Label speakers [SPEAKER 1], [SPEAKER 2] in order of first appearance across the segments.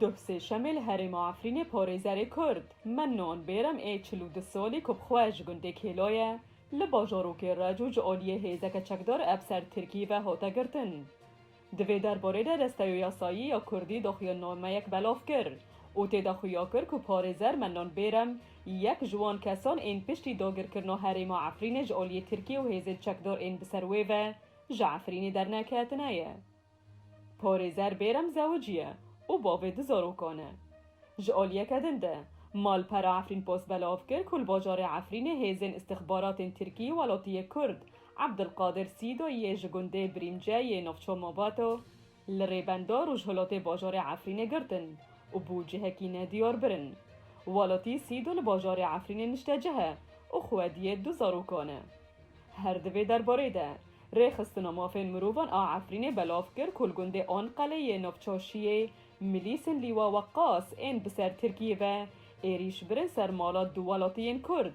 [SPEAKER 1] Duh Sêşemê li herêma Efrînê parêzerê Kurd Mennan Bêrem ê çil û du salî ku bi xwe ji gundê Kêla ye li bajarokê Reç û ji aliyê hêzeke çekdar ev ser Tirkî ve hate girtin. Di vê derbarê de Desteyo Yasayî ya Kurdî daxuyanameyek belav kir û tê de xuya kir ku parêzer Mennan Bêrem Yek ji wan kesan ên piştî dagirkirina herêma Efrînê ji aliyê Tirkiye û hêzên çekdar ên bi ser wê ve ji Efrînê derneketine ye. Parêzer Bêrem zewicî ye û bavê du zarokan e. Ji aliyeke din de, Malpera Efrînpost belav kir ku li bajarê Efrînê hêzên îstixbaratên Tirkî welatiyê Kurd Ebdulqadir Sîdayiyê ji gundê Birîmce yê navçeya Mabato, li rêbenda rojhilatê bajarê Efrînê girtin û bû cihekî ne diyarbirin. Welatî Sîdo li bajarê Efrînê niştecih e û xwediyê du zarokan e. Her di vê derbarê de, Rêxistina Mafên Mirovan a Efrînê belav kir ku li gundê Anqelê yê navça Şiyê milîsên Lîwa Weqqas ên bi ser Tirkiyê ve êrîş birin ser mala du welatiyên Kurd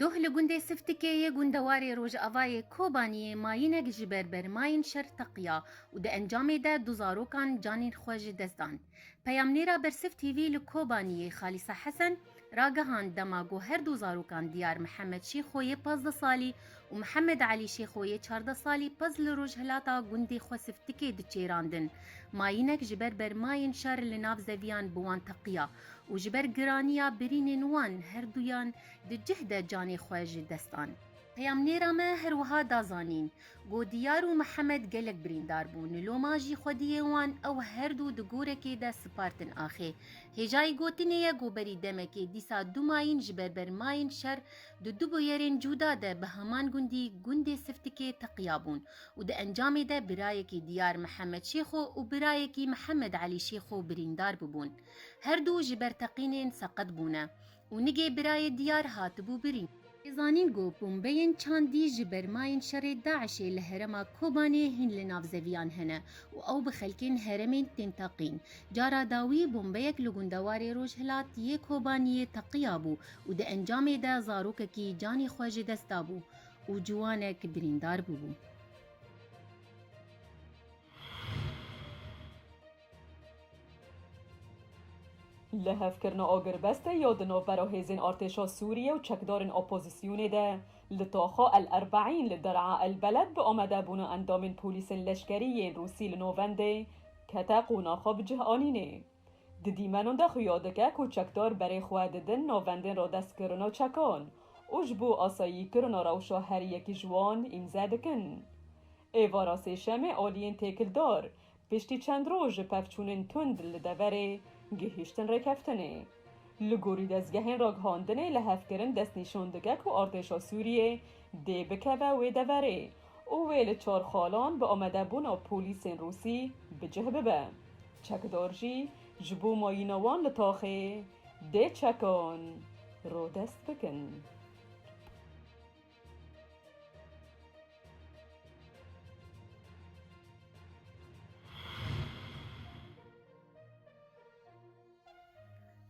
[SPEAKER 2] Doh li gundê Siftikê yê gundewarê Rojavayê Kobaniyê mayînek ji ber bermayên şer teqiya û di encamê de du zarokan canên xwe ji dest dan. Peyamnêra Bersif TV li Kobaniyê Xalîsa Hesen ragihand dema ku her du zarokan Diyar Mihemed Şêxo yê pazdeh salî û Mihemed Elî Şêxo yê çardeh salî pez li rojhilata gundê xwe Siftikê diçêrandin mayînek ji ber bermayên şer li nav zeviyan bi wan teqiya. û ji ber giraniya birînên wan her duyan di cih de canê xwe ji dest dan. Peyamnêra me her wiha da zanîn, Go Diyar û Mihemed gelek birîndar bûn, loma jî xwediyê wan ew her du di gorekê de sipartin axê. Hêjayî gotinê ye go berî demekê dîsa du mayîn ji berbermayên şer di du buyerên cûda de bi heman gundî gundê Siftikê teqiyabûn û di encamê de birayekî Diyar Mihemed Şêxo û birayekî Mihemed Elî Şêxo birîndar bibûn. Her du ji ber teqînên seqet bûne û nigê birayê diyar hatibû birîn. Tê zanîn ku bombeyên çandî ji bermayên şerê DAIŞ'ê li herêma Kobanê hîn li nav zeviyan hene û ew bi xelkên herêmên tên teqîn. Cara dawî bombeyek li gundewarê rojhilat yê Kobaniyê teqiyabû û di encamê de zarokekî canê xwe ji dest dabû û ciwanek birîndar bûbû.
[SPEAKER 1] Li hevkirina agirbestê ya di navbera hêzên artêşa Sûriyê û çekdarên opozîsyonê de li taxa El Erbeîn li Der'a El Beled bi amadebûna endamên polîsên leşkerî yên Rûsî li navendê kete qonaxa bi cih anînê. Di dîmenan de xuya dike ku çekdar berê xwe didin navendên radestkirina çekan û ji bo asayîkirina rewşa her yekî ji wan îmze dikin. Êvara sêşemê aliyên têkildar Piştî çend roj pevçûnên tund li deverê gihîştin rêkeftinê. Li gorî dezgehên ragihandinê lihevkirin destnîşan dike ku artêşa Sûriyê dê bikeve wê deverê û wê li çar xalan bi amadebûna polîsên rûsî bi cih bibe. Çekdar jî ji bo mayîna wan li taxê dê çekan radest bikin.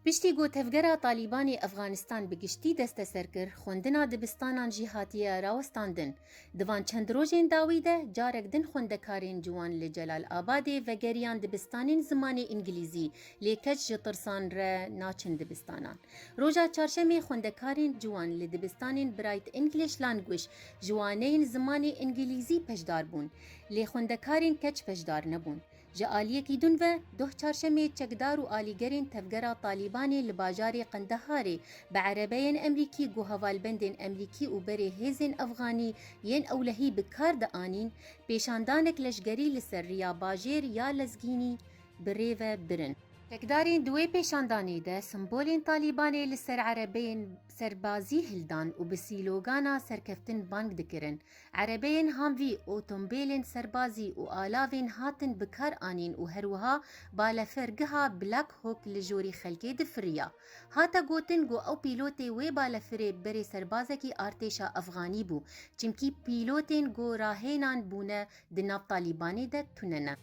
[SPEAKER 2] Piştî ku tevgera Talîbanê Efxanistan bi giştî desteser kir, xwendina dibistanan jî hatiye rawestandin. Di van çend rojên dawî de carek din xwendekarên ciwan li Celalabadê vegeriyan dibistanên zimanê Îngilîzî, Lê keç ji tirsan re naçin dibistanan. Roja Çarşemê xwendekarên ciwan li dibistanên Bright English Language ji waneyên zimanê Îngilîzî peşdar bûn. Lê xwendekarên keç peşdar nebûn. Ji aliyekî din ve doh Çarşemê çekdar û alîgerên tevgera Talîbanê li bajarê Qendeharê bi erebeyên Emrîkî ku hevalbendên Emrîkî û berê hêzên Efxanî yên ewlehî bi kar dianîn pêşandanek leşgerî li ser riya bajêr ya Lezgînî bi rê ve birin. Çekdarên di wê pêşandanê de simbolên Talîbanê li ser erebeyên serbazî hildan û bi slogana serkeftin bang dikirin. Erebeyên Humvî, otombêlên serbazî û alavên hatin bikaranîn û herwiha balefirgeha Black Hawk li jorî xelkê difiriya. Hate gotin ku ew pîlotê wê balefirê berê serbazekî artêşa Efxanî bû, çimkî pîlotên ku rahênan bûne di nav Talîbanê de tune ne.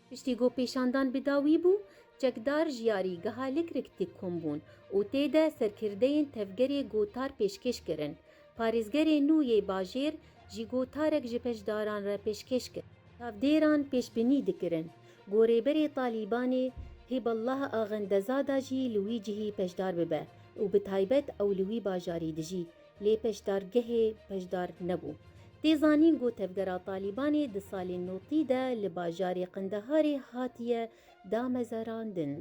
[SPEAKER 2] Piştî ku pêşandan bi dawî bû, çekdar ji yarî geha Likrik tîk kom bûn û tê de serkirdeyên tevgerê gotar pêşkêş kirin. Parêzgerê nû yê bajêr jî gotarek ji beşdaran re pêşkêş kir. Çavdêran pêşbînî dikirin ku Rêberê Talîbanê Hîballah Axendezada jî li wî cihî beşdar bibe û bi taybet ew li wî bajarî dijî. Lê beşdargehê beşdar nebû. Tê zanîn ku Tevgera Talîbanê di salên notî de li bajarê Qindeharê hatiye damezerandin.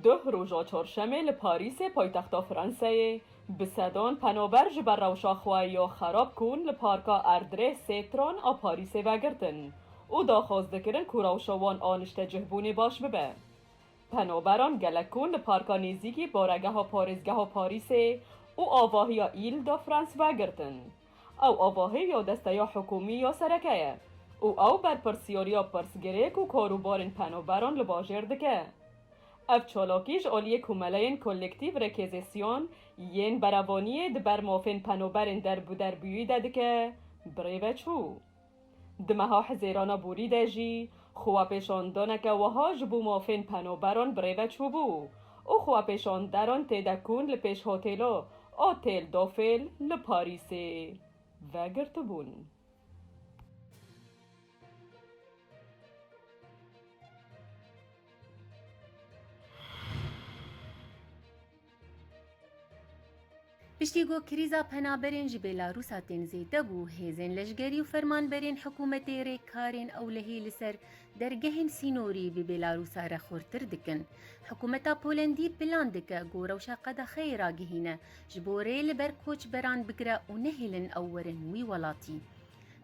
[SPEAKER 1] Duh roja Çarşemê li Parîsê paytexta Fransayê bi sedan penaber ji ber rewşa xwe ya xerab kûn li parka Erdrê Sêtran a Parîsê vegirtin û daxwaz dikirin ku rewşa wan a niştecihbûnê baş bibe. Penaberan gelek kûn li parka nêzîkî baregeha parêzgeha Parîsê û avahiya Île de France vegirtin. Ew avahî ya desteya hikûmî ya sereke ye û ew berpirsyariya pirsgirêk û karûbarên penaberan li bajêr dike. Ev çalakî ji aliyê komeleyên Kolektîf Rekêzesyon yên Berevaniyê di ber mafên penaberên derbûderbûyî de dike birêve çû. Di meha hizêrana borî de jî xwepêşandaneke wiha ji bo mafên penoberan birêve çûbû û xwepêşanderan têde kûn li pêş hotêla Hôtel Dofêl li Parîsê vegirtibûn.
[SPEAKER 2] Piştî ku krîza penaberên ji Bêlarûsa tên zêde bû, hêzên leşgerî û fermanberên hikûmetê rêkarên ewlehî li ser dergehên sînorî bi Bêlarûsa re xurtir dikin. Hikûmeta Polendî plan dike ku rewşa qedexeyê ragihîne, ji bo rê li ber koçberan bigire û nehêlin ew werin wî welatî.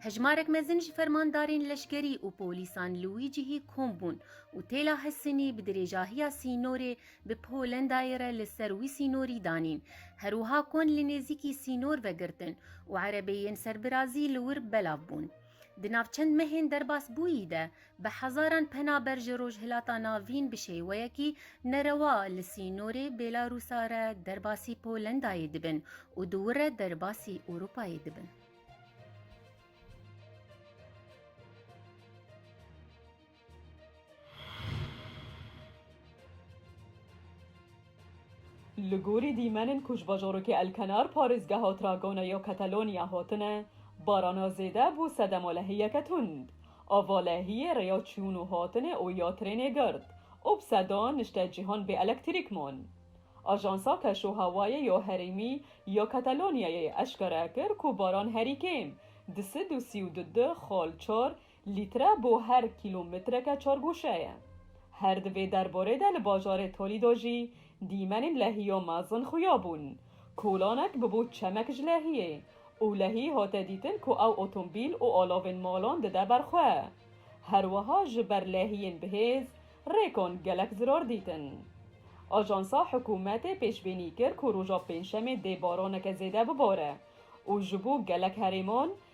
[SPEAKER 2] Hejmarek mezin ji fermandarên leşgerî û polîsan li wî cihî kom bûn û têla Hessinî bi dirêjahiya sînorê Bi Polandayê re li ser wî sînorî danîn. Herwiha kon li nêzîkî sînor vegirtin û erebeyên serbirazî li wir belav bûn. Di nav çend mehên derbasbûyî de bi hezaran penaber ji Rojhilata Navîn bi şêweyekî nerewa li sînorê Bêlarûsa re derbasî Polandayê dibin û di wir re derbasî Ewropayê dibin.
[SPEAKER 1] Li gorî dîmenên ku ji bajarokê El Kenar parêzgeha Tragona ya Katalonîya hatine, barana zêde bû sedema lehiyeke tund. Ava lehiyê rêya çûn û hatinê û ya trênê girt û bi sedan nişte cîhan bê elektrîk man. Ajansa Keşûhewayê ya Herêmî ya Katalonyayê eşkere kir ku baran herî kêm di sid û sî û du di xal çar Lître bo her kîlometreke çargoşe ye. Her di vê derbarê de li bajarê Tolîdo jî dîmenên lehiya mezin xuya bûn. Kolanek bûbû çemek ji lehiyê û lehî hate dîtin ku ew otombîl û alavên malan dide ber xwe. Her wiha ji ber lehiyên bihêz rêkan gelek zirar dîtin. Ajansa hikûmetê pêşbînî kir ku roja pêncşemê dê baraneke zêde bibare û ji bo gelek herêman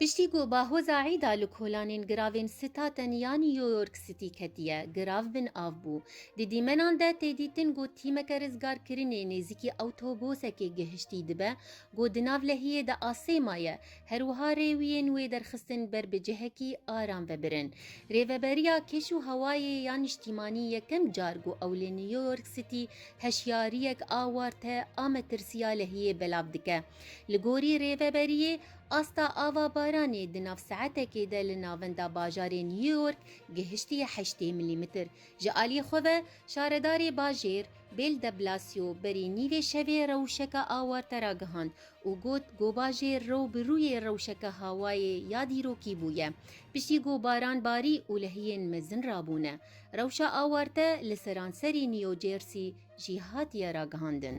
[SPEAKER 2] Piştî ku bahoza îda li kolanên giravên Sitaten ya New York City ketiye, girav bin av bû. Di dîmenan de tê dîtin ku tîmeke rizgarkirinê nêzîkî ewtobusekê gihiştî dibe ku di nav lehiyê de asê maye, her wiha rêwiyên wê derxistin ber bi cihekî aram ve birin. Rêveberiya Kêş û Hewayê ya Niştîmanî yekem car ku ew li New York City heşyariyek a war te a metirsiya lehiyê belav dike. Li gorî Rêveberiyê, asta ava baranê di nav saetekê de li navenda bajarê New York gihiştiye heştê milîmetr. Ji aliyê xwe ve, şaredarê bajêr, Bill de Blasio berî nîvê şevê rewşeke awarte ragihand û got ku bajêr rû bi rûyê rewşeke hawayê ya dîrokî bûye. Piştî ku baran barî û lehiyên mezin rabûne, rewşa awarte li seranserî New Jersey jî hatiye ragihandin.